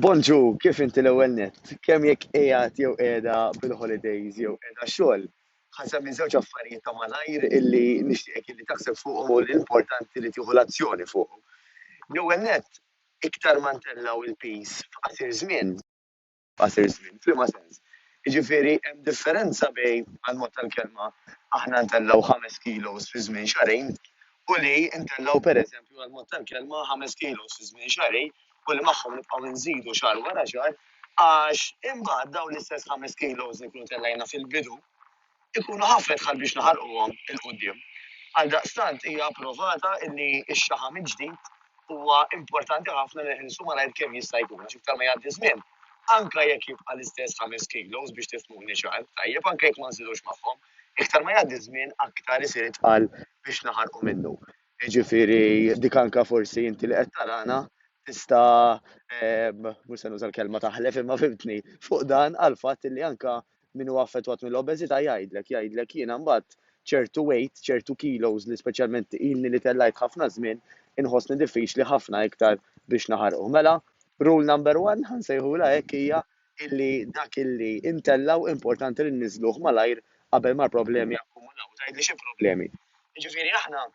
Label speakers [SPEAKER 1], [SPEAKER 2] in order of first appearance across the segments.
[SPEAKER 1] Bonġu, kif inti l-ewwel nett? Kemm jekk qiegħed jew qiegħda bil-holidays jew qiegħda xogħol. Ħa nsemmi żewġ affarijiet ta' malajr illi nixtieqek illi taħseb fuqhom u li importanti li tieħu l-azzjoni fuqhom. L-ewwel nett, iktar ma ntellgħu l-piż f'qasir żmien, f'qasir żmien. F'liema sens? Jiġifieri hemm differenza bejn, għall-mod tal-kelma, aħna ntellgħu ħames kilos fi żmien xahrejn u li ntellgħu, pereżempju, għall-mod tal-kelma, ħames kilos fi żmien xahrejn u li magħhom nibqgħu nżidu xahar wara xahar għax imbagħad dawn l-istess ħames kilos li nkunu tellejna fil-bidu ikunu ħafna dħal biex naħarquhom 'il quddiem. Għaldaqstant hija approvata li x-xaħam il-ġdid huwa importanti ħafna li nħilsu malajr kemm jista' jkun għax iktar ma jgħaddi żmien, anke jekk jibqa' l-istess ħames kilos biex tifhmuni ċar, tajjeb, anke jekk ma nżidux magħhom, iktar ma jgħaddi żmien aktar isir itqal biex naħarqu minnu. Jiġifieri dik anke forsi inti li qed tarana tista' mhux se nuża l-kelma taħlef imma fimtni fuq dan għall-fatt li anke min huwa affettwat mill-obeżità jgħidlek, jgħidlek jiena mbagħad ċertu weight, ċertu kilos li speċjalment ilni li tellajt ħafna żmien, inħossni diffiċli ħafna iktar biex naħarquh. Mela, rule number one, ħansejħulha hekk hija illi dak illi intellgħu importanti li nniżżluh malajr qabel ma l-problemi jakkumulaw. Tgħidli xi problemi? Jiġifieri aħna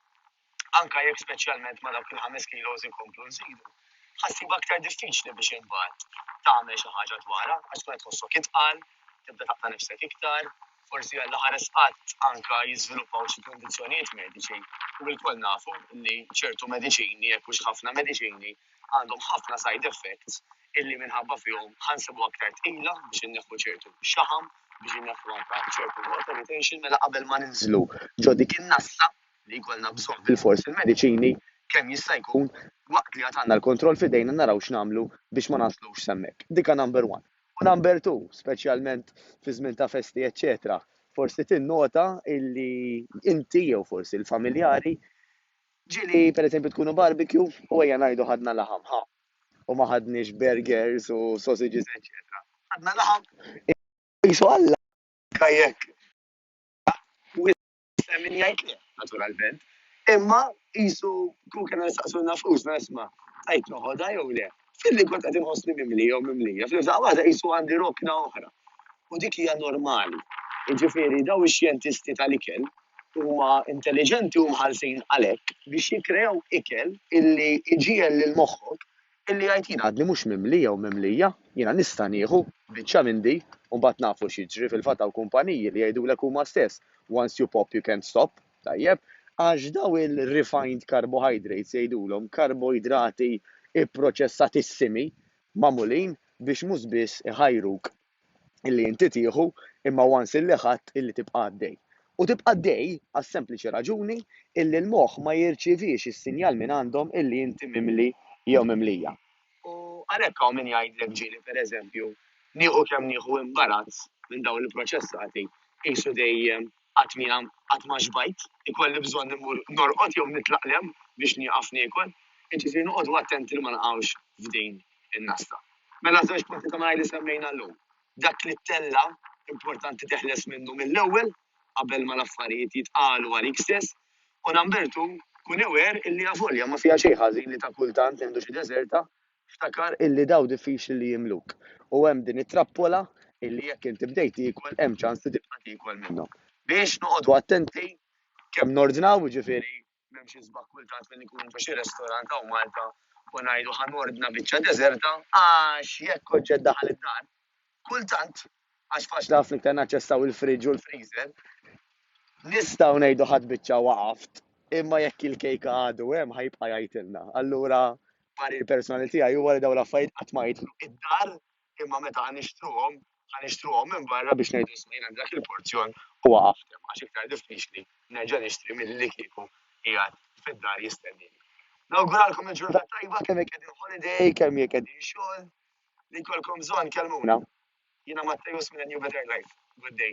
[SPEAKER 1] anke jekk speċjalment ma' dawk il-ħames kilos inkomplu nżidu, ħa ssib aktar diffiċli biex imbagħad tagħmel xi ħaġa dwarha għax tkun qed tħossok itqal, tibda taqta' nifsek iktar, forsi għal ħares qatt anke jiżviluppaw xi kundizzjonijiet mediċi u lkoll nafu li ċertu mediċini jekk hux ħafna mediċini għandhom ħafna side effects illi minħabba fihom ħansibu aktar tqila biex inneħħu ċertu xaħam biex inneħħu anke ċertu water retention mela qabel ma ninżlu ġo dik in-nasla li jkollna bżonn bilfors il-mediċini kemm jista' jkun waqt li għad għandna l-kontroll f'idejna naraw x'nagħmlu biex ma naslux s'hemmhekk. Dika number one. U number two, speċjalment fi żmien ta' festi eċċetera, forsi tinnota illi inti jew forsi l-familjari ġieli pereżempju tkunu barbecue u ejja ngħidu ħadna laħam, ħa, u ma ħadniex burgers u sausages eċċetera. Ħadna laħam, qisu Alla jekk Hemm min jgħid le, naturalment. Imma qisu kieku kellna nistaqsu nafusna isma' qed noħodha jew le. Filli kont qed inħossni mimli jew mimlija, fl-imżda waħda qisu għandi rokna oħra. U dik hija normali. Jiġifieri daw ix-xjentisti tal-ikel huma intelliġenti u mħallsin għalhekk biex jikkreaw ikel illi jġiegħel lil moħħok Billi jgħid jien għadni mhux mimli jew mimlija, jiena nista' nieħu biċċa minn di u mbagħad nafu x'jiġri, fil-fatt hawn kumpaniji li jgħidulek huma stess once you pop you can't stop, tajjeb, għax dawn il-refined carbohydrates jgħidulhom karboidrati pproċessatissimi magħmulin biex mhux biss iħajruk illi inti tieħu imma once illi ħadt illi tibqa' għaddej. U tibqa' għaddej għas-sempliċi raġuni illi l-moħħ ma jirċievix is-sinjal minn għandhom illi inti mimli jew mimlija. U għalhekk hawn min jgħidlek ġieli pereżempju nieħu kemm nieħu imbarazz minn dawn il-proċessati qisu dejjem Qatt mia qatt ma xbajt. Ikolli bżonn immur norqod jew nitlaqlem biex nieqaf niekol. Jiġifieri noqogħdu attenti li ma naqgħux f'din in-nasta. Mela żewġ punti ta' malajr li semmejna llum. Dak li ttella' importanti teħles minnu mill-ewwel qabel ma l-affarijiet jitqalu għalik stess. U number two, kun aware illi avolja ma fiha xejn ħażin li ta' kultant nieħdu xi deżerta Ftakar illi dawn diffiċli li jimluk u hemm din it-trappola illi jekk inti bdejt tiekol hemm ċans li tibqa' tiekol minnhom. Biex noqogħdu attenti kemm nordnaw, jiġifieri m'hemm xi sbagħ kultant li nkunu ġo xi restorant hawn Malta u ngħidu ħa nordna biċċa deżerta għax jekk oġġett daħal id-dar, kultant, għax faċli ħafna iktar naċċessaw il-fridge u l-freezer, nistgħu ngħidu ħadd biċċa waqaft, imma jekk il-kejka għadu hemm ħa jibqa' jgħidilna. Allura parir personali tiegħi huwa li dawn l-affarijiet qatt ma jidħlu id-dar imma meta ħa nixtruhom ħa nixtruhom minn barra biex ngħidu isma' jien għandi dak il-porzjon u waqaft hemm għax iktar diffiċli nerġa' nixtri milli li kieku qiegħed fid-dar jistennini. Nawguralkom il-ġurnata tajba kemm jekk qegħdin holiday, kemm jekk qegħdin xogħol, li jkollkom bżonn kelmuna. Jiena Mattejus minn New Better Life. Good day.